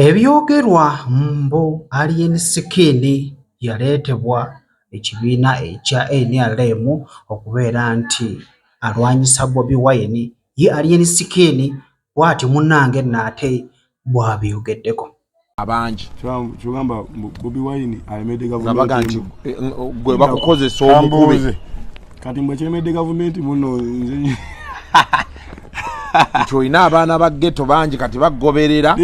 Ebyogerwa mbu Alien Skin yaleetebwa ekibiina ekya nrm okubeera nti alwanyisa Bobi Wine, ye Alien Skin bwatyo munnange nno ate bwabyogeddeko. abangi nga baga nti gwe bakukozesa omukube. kati mbwe kiremedde gavumenti muno nze nti olina abaana ba geto bangi kati bagoberera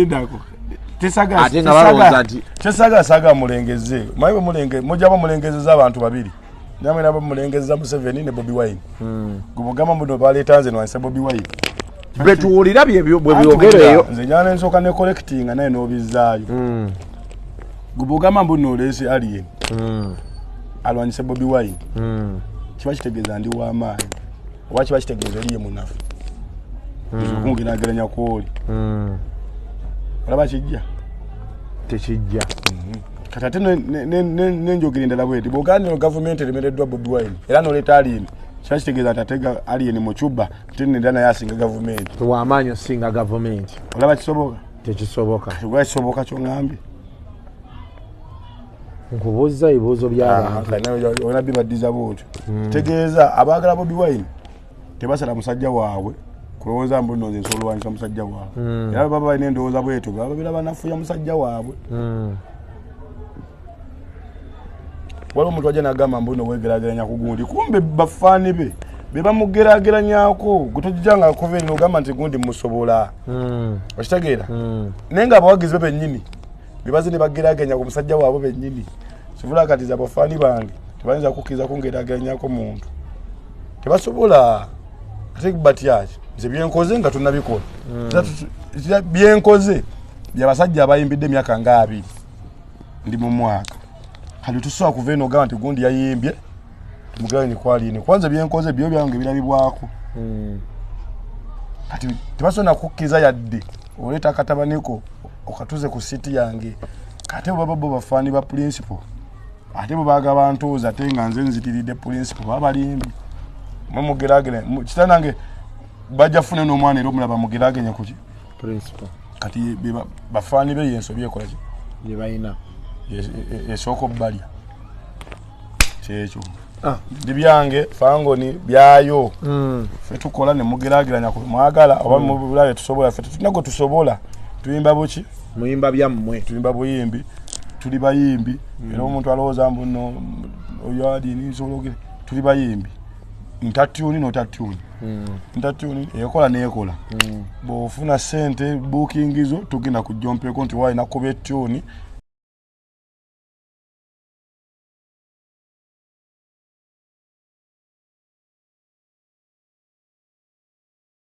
ate nga balowooza nti tesagasaga mulengeze maye bwemulenge mujaba mulengezeza abantu babiri namwe nabo mulengezeza museveni ne bobi wine hmm. gubugamba muno baleeta nze nwanise bobi wine betuwulira bwebyogereyo nze nyana ensooka ne collectinga naye n'obizaayo hmm. gubogamba mbu nolese alien mm. alwanyise bobi wine mm. kiba kitegeeza ndi wamaanyi oba kiba kitegeeza oliye munafu hmm. kunginageranya kwoli hmm. olaba kijja tekijja mhm. kati ate nenjogera endala bweti bwoganiro gavumenti eremereddwa bobi wine era noleeta alien kiba kitegeeza nti atega alien mu cuba ate nera naye asinga gavumenti wamaanyi osinga gavumenti olaba kisoboka tekisoboka kisoboka kyongambye nkubuuzza ebibuuzo byabantuona ah, bibaddiza bwotyo hmm. tegeeza abaagala bobi wine tebasala musajja waabwe kulowooza mbu noze nsobola olwanyisa musajja waabwe hmm. era baba balina endowooza bwetyo baba babira banafuya musajja waabwe hmm. waliwo omuntu ajja nagamba mbuno wegerageranya ku gundi kumbe bafaani be bebamugerageranyako gwetojija nga akuva enyo ogamba nti gundi musobola hmm. okitegeera hmm. naye nga abawagizi be bennyini bebaze ne bagerageranya ku musajja waabwe bennyini sivula kati za bafaani bange tebayinza kukkiriza kungerageranyako muntu tebasobola ate batyaki nze byenkoze nga tunabikola hmm. byenkoze byabasajja abayimbidde emyaka nga abiri ndi mu mwaka kati tusobola kuva eno ogamba nti gundi yayimbye mugabe nikwali eno kwanza byenkoze byo byange birabibwako hmm. kati tebasobola nakukkiriza yadde oleeta akatabaniko okatuze ku siti yange kate bwebaba bo bafaani ba pulinsipo ate bwebaga bantuuza ate nga nze nzitiridde pulinsipo baba balimbi mwe mugeragere kitanange bajja fune n'omwana era omulaba mugeragenya kuki principal kati bafaani be yensobi ekolaki yebalina esooka obubalya kyekyo ah. ndi byange fangoni byayo hmm. fe tukola nemugerageranya mwagala oba hmm. mubula byetusobola fe tetulina gwe tusobola tuyimba buki muyimba byammwe tuyimba buyimbi tuli bayimbi hmm. era omuntu alowooza mbuno oyo adini nsobolaogere tuli bayimbi ntatyuni notatyuni Mm. ntatuni ekola nekola mm. bwofuna sente booking zo tugenda kujompeeko nti walina kuba etuni